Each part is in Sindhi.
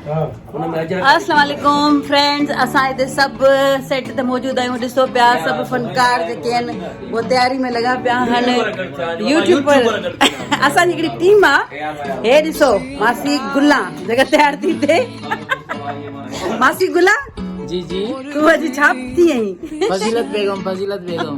السلام عليڪم فرينڊز اسان هتي سڀ سيٽ تي موجود آهيون ڏسو پيا سڀ فنڪار جيڪي آهن هو تياري ۾ لڳا پيا آهن يوٽيوبر اسان جي هڪڙي ٽيم آهي هي ڏسو ماسي گلا جيڪا تيار ٿي ٿي ماسي گلا جي جي تون اڄ ڇا ٿي آهين فضيلت بيگم فضيلت بيگم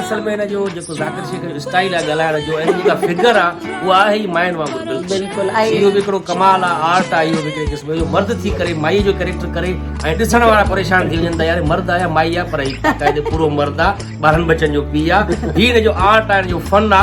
اصل ۾ ان جو جيڪو ذاڪر شيخ جو اسٽائل آ ڳالهائڻ جو ۽ جيڪا فگر آ اها آهي ئي ماين وانگر بلڪل اهو به هڪڙو ڪمال آ آرٽ آ اهو به هڪڙي قسم جو مرد ٿي ڪري مائي جو ڪريڪٽر ڪري ۽ ڏسڻ وارا پريشان ٿي وڃن ته يار مرد آ يا مائي آ پر هي باقاعدي پورو مرد آ ٻارهن ٻچن جو پيء آ هي هن جو آرٽ آ هن جو فن آ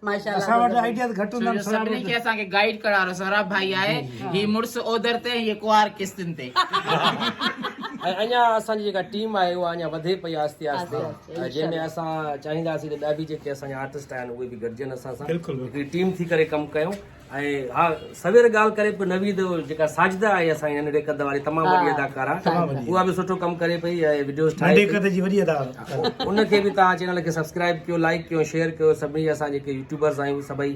اسان وٽ آئيڊياز گهٽ هوندا آهن سهراب سڀني کي اسان کي گائيڊ ڪرڻ وارو سهراب ڀائي آهي هي مڙس اوڌر تي هي ڪنوار قسطن تي ۽ اڃا اسان جي جيڪا ٽيم آهي اها اڃا وڌي پئي آهستي آهستي جنهن ۾ اسان چاهينداسين ته ٻيا به جيڪي اسان جا آرٽسٽ آهن اهي به گڏجن اسان سان هڪڙي ٽيم ٿي ڪري ڪم ڪيون ۽ ها سوير ڳالهه ڪري پئي نويد جيڪا ساجده آهي اسان جي ننڍي قد واري تمام وڏي اداڪارا اها به سٺو ڪم ڪري پئي ۽ وڊيوز ٺاهي ننڍي قد جي وڏي اداڪارا ان کي به تان چينل کي سبسڪرائب ڪيو لائڪ ڪيو شيئر ڪيو سڀني جا اسان جيڪي يوٽيوبرز آهيون سڀئي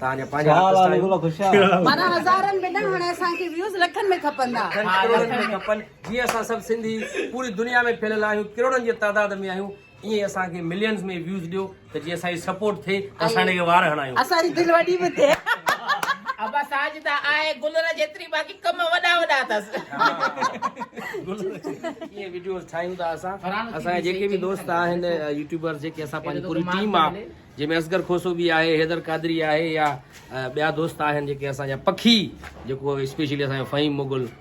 تان جا پنهنجا آرٽسٽ آهيون مانا هزارن ۾ نه هاڻي اسان کي ويوز لکن ۾ کپندا کپن جي اسان سڀ سنڌي پوري دنيا ۾ ڦهليل آهيون ڪروڙن جي تعداد ۾ آهيون ائين اسان کي ملينز ۾ ويوز ڏيو ته جي اسان جي سپورٽ ٿئي ته اسان ان کي وار هڻايون اسان جي دل وڏي به ٿئي ابا ساجدا آهي گلر جيتري باقي ڪم وڏا وڏا اٿس ائين وڊيوز ٺاهيون ٿا اسان اسان جي جيڪي به دوست آهن يوٽيوبرز جيڪي اسان پنهنجي پوري ٽيم آهي جنهن ۾ اصغر کوسو به آهي حيدر قادري آهي يا ٻيا دوست آهن جيڪي اسان جا پکي جيڪو اسپيشلي اسان جو فهيم مغل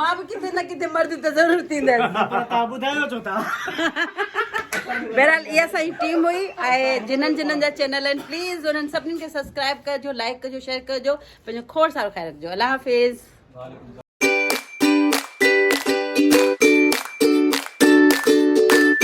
مان به ڪٿي نه ڪٿي مرد ته ضرور ٿيندس تان ٻڌايو ڇو ٿا بهرحال اها اسان جي ٽيم هئي ۽ جنن جنن جا چينل آهن پليز انهن سڀني کي سبسڪرائب ڪجو لائڪ ڪجو شيئر ڪجو پنهنجو کوڙ سال خيال رکجو الله حافظ